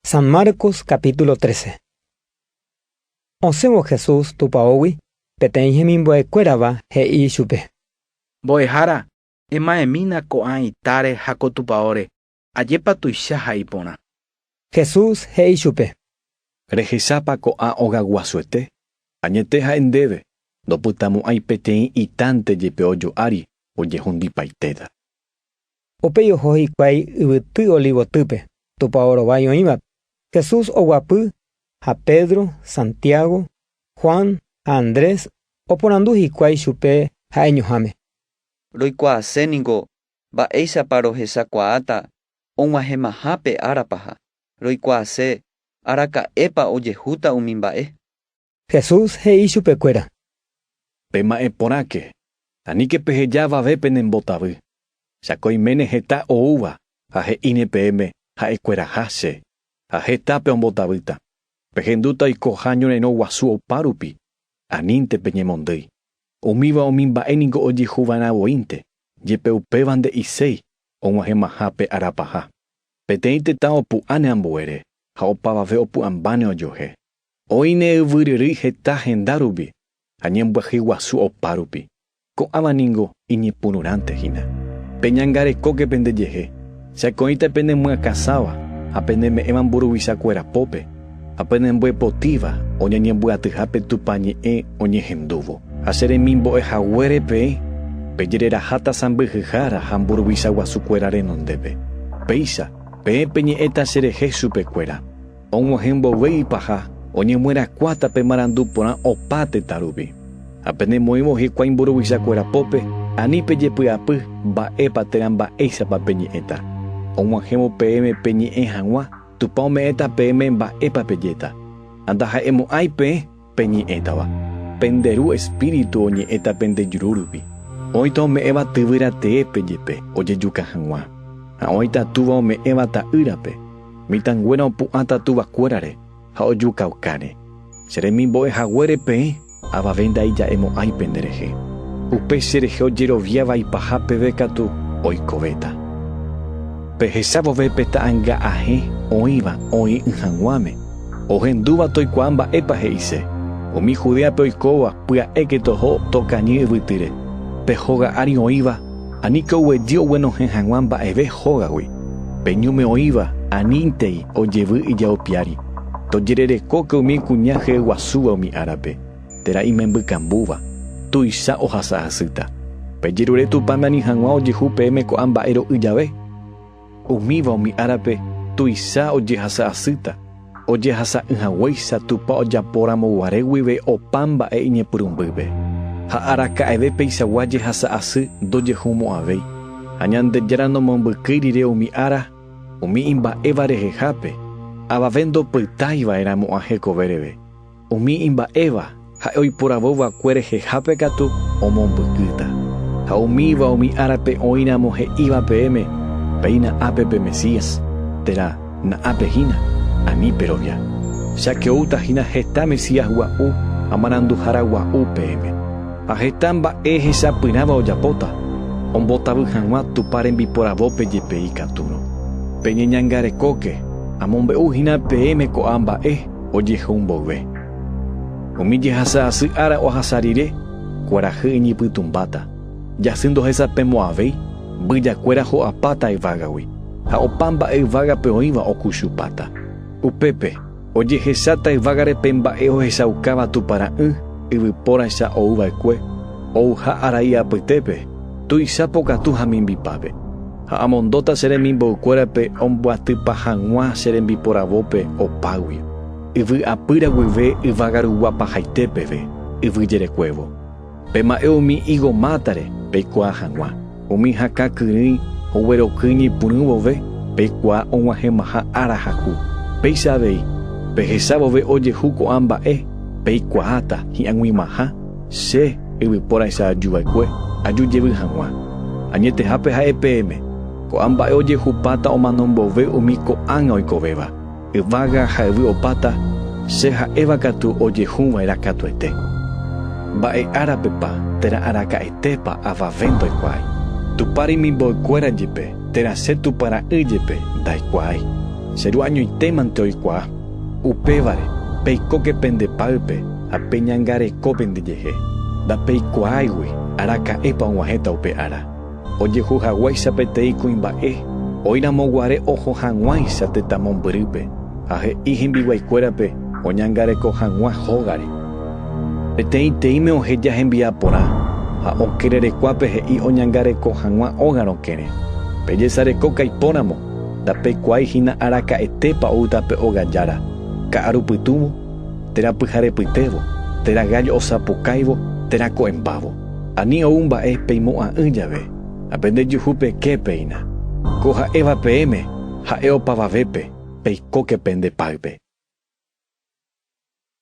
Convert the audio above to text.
San Marcos capítulo 13. Osẽvo Jesús tupaógui, peteĩ hemimbo'ekuérava he'i ichupe. Mbo'ehára, emaemína ko'ã itáre ha ko tupaóre, ajépa tuicha ha iporã. Jesús he'i chupe. Rehechápa ko'ã ogaguasuete? Añete ha'e ndéve, ndopytamo'ãi peteĩ itánte jepe ojo'ári ojehundipaitéta. Upéi oho hikuái yvyty Olivotýpe, tupao rovái oĩvape. Jesús oguapy ha Pedro, Santiago, Juan ha Andrés oporandu hikuái chupe ha'eñoháme. Roikuaase ningo mba'éichapa rohechakuaáta og̃uahẽmaha pe ára paha. Roikuaase araka'épa ojehúta umi mba'e. Jesús he'i chupekuéra. Pema'ẽ porãke, aníke peheja avave pene mbotavy, cháke oiméne heta oúva ha he'íne peẽme ha'ekueraha che, ha heta peombotavýta, pehendúta oikoha ñorãirõ guasu opárupi, anínte peñemondýi. Umíva umi mba'e niko ojehuva'erã voínte, jepe upéva nde'iséi og̃uahẽmaha pe ára paha. Peteĩ tetã opu'ãne ambuére, ha opavave opu'ãmbáne ojohe. Oĩ ne yvyryrýi heta henda rupi ha ñembyahy guasu opárupi, ko'ãva ningo iñepyrũrãnte hína. Peñangarekóke pende jehe, chakõíta pene myakãsáva ha pene me'ẽva mburuvicha kuéra pópe, ha pene mbo'epotíva oñañembyatyha pe Tupã ñe'ẽ oñehendúvo. Ha che remimbo'e haguére peẽ, pejereraháta sãmbyhyhára ha mburuvicha guasu kuéra renondépe. Péicha, peẽ peñe'ẽta che rehe chupe kuéra. Og̃uahẽ mboyve ipaha, oñemyerakuáta pe marandu porã opa tetã rupi. Ha pene moĩvo hikuái mburuvicha kuéra pópe, ani pejepy'apy mba'épa térã mba'éichapa peñe'ẽta. Og̃uahẽvo peẽme peñe'ẽ hag̃ua, Tupã ome'ẽta peẽme mba'épa pejéta. Ha ndaha'emo'ãi peẽ. Peñe'ẽtava, pende Ru Espíritu oñe'ẽta pende juru rupi. Oĩta ome'ẽva tyvyra teépe jepe ojejuka hag̃ua, ha oĩta túva ome'ẽva ta'ýrape. Mitãnguéra opu'ãta tuvakuérare ha ojukaukáne. Che remimbo'e haguére peẽ avave ndaija'emo'ãi pende rehe. Upe che rehe ojerovia vaipaha peve katu oikovéta. Pehecha vove pe ta'anga ahẽ oĩva oĩ'ỹ hag̃uáme, Ohendúva toikuaa mba'épa he'ise. Umi Judéape oikóva pya'éke toho tokañy yvytyre, pe hóga ári oĩva, aníke oguejy oguenohẽ hag̃ua mba'eve hógagui, pe ñúme oĩva anítei ojevy ijao piári. Tojererekóke umi kuña jeyguasúva umi árape, térã imembykambúva, tuicha ohasa hasýta. Pejerure Tupã nani hag̃ua ojehu peẽme ko'ã mba'e ro'y jave. Umíva umi árape tuicha ojehasa asýta, ojehasa'ỹ haguéicha Tupã ojapóramo guare guive opa mba'e iñepyrũmbýpe. Ha araka'eve peichagua jehasa asy ndojehumo'ãvéi, ha Ñandejára nomombykýi rire umi ára umi imba'éva rehehápe, avave ndopytái va'erãmo'ã hekove reve. Umi imba'éva ha'e oiporavo va'ekue rehehápe katu omombykýta. Ha umíva umi árape oĩramo he'íva peẽme, Péina ápe pe Mesías, térã na'ápe hína, ani perovia. Jakeúta hína heta Mesías gua'u ha maranduhára gua'u peẽme. Ha heta mba'e hesapyrãva ojapóta, ombotavy hag̃ua Tupã rembiporavópe jepe ikatúrõ. Peñeñangarekóke, amombe'u hína peẽme ko'a mba'e. ojehou mboyve. Umi jehasa asy ára ohasa rire, kuarahy iñipytũmbáta, jasy ndohesapemo'ãvéi, mbyjakuéra ho'apáta yvágagui, ha opa mba'e yvágape oĩva okuchupáta. Upépe, ojehecháta yvágare pe mba'e ohechaukáva tupara'ỹ yvypóraicha ouva'ekue, ouha arai apytépe, tuicha pokatu ha mimbipápe. Ha amondóta che remimboykuérape ombyatypa hag̃ua che rembiporavópe opágui, yvy apýra guive yvága rugua pahaite peve, yvy jerekuévo. Pema'ẽ umi higo mátare, peikuaa hag̃ua. Umi hakã kyrỹi ogueroky ñepyrũ vove, peikuaa og̃uahẽmaha ára haku. Péicha avei, pehecha vove ojehu ko'ã mba'e, peikuaáta hi'ag̃uimaha. Che, yvypóraicha aju va'ekue, aju jevy hag̃ua. Añetehápe ha'e peẽme, ko'ã mba'e ojehupáta omano mboyve umi ko'ág̃a oikovéva, yvága ha yvy opáta, che ha'éva katu ojehu va'erã katuete. Mba'e árapepa térã araka'etépa avave ndoikuaái. Tupã remimboykuéra jepe, térã che Tupã Ra'y jepe, ndaikuaái. Che Ru añoitémante oikuaa. Upévare, peikóke pende páype ha peñangareko pendejehe. Ndapeikuaáigui araka'épa og̃uahẽta upe ára. Ojehu haguéicha peteĩ kuimba'e, oĩramo guare oho hag̃uáicha tetã mombyrýpe, ha he'i hembiguaikuérape oñangareko hag̃ua hógare. Peteĩteĩme oheja hembi'a porã, ha okererekuápe he'i oñangareko hag̃ua óga rokẽre. Pejesarekóka ipóramo, Ndapeikuaái hína araka'etépa oúta pe óga jára, ka'aru pytũvo, térã pyharepytévo, térã gállo osapukáivo, térã ko'ẽmbávo. Ani ou mba'e peimo'ã'ỹ jave, ha pende juhu peke péina. Ko ha'éva peẽme ha'e opavavépe, peikóke pende páype.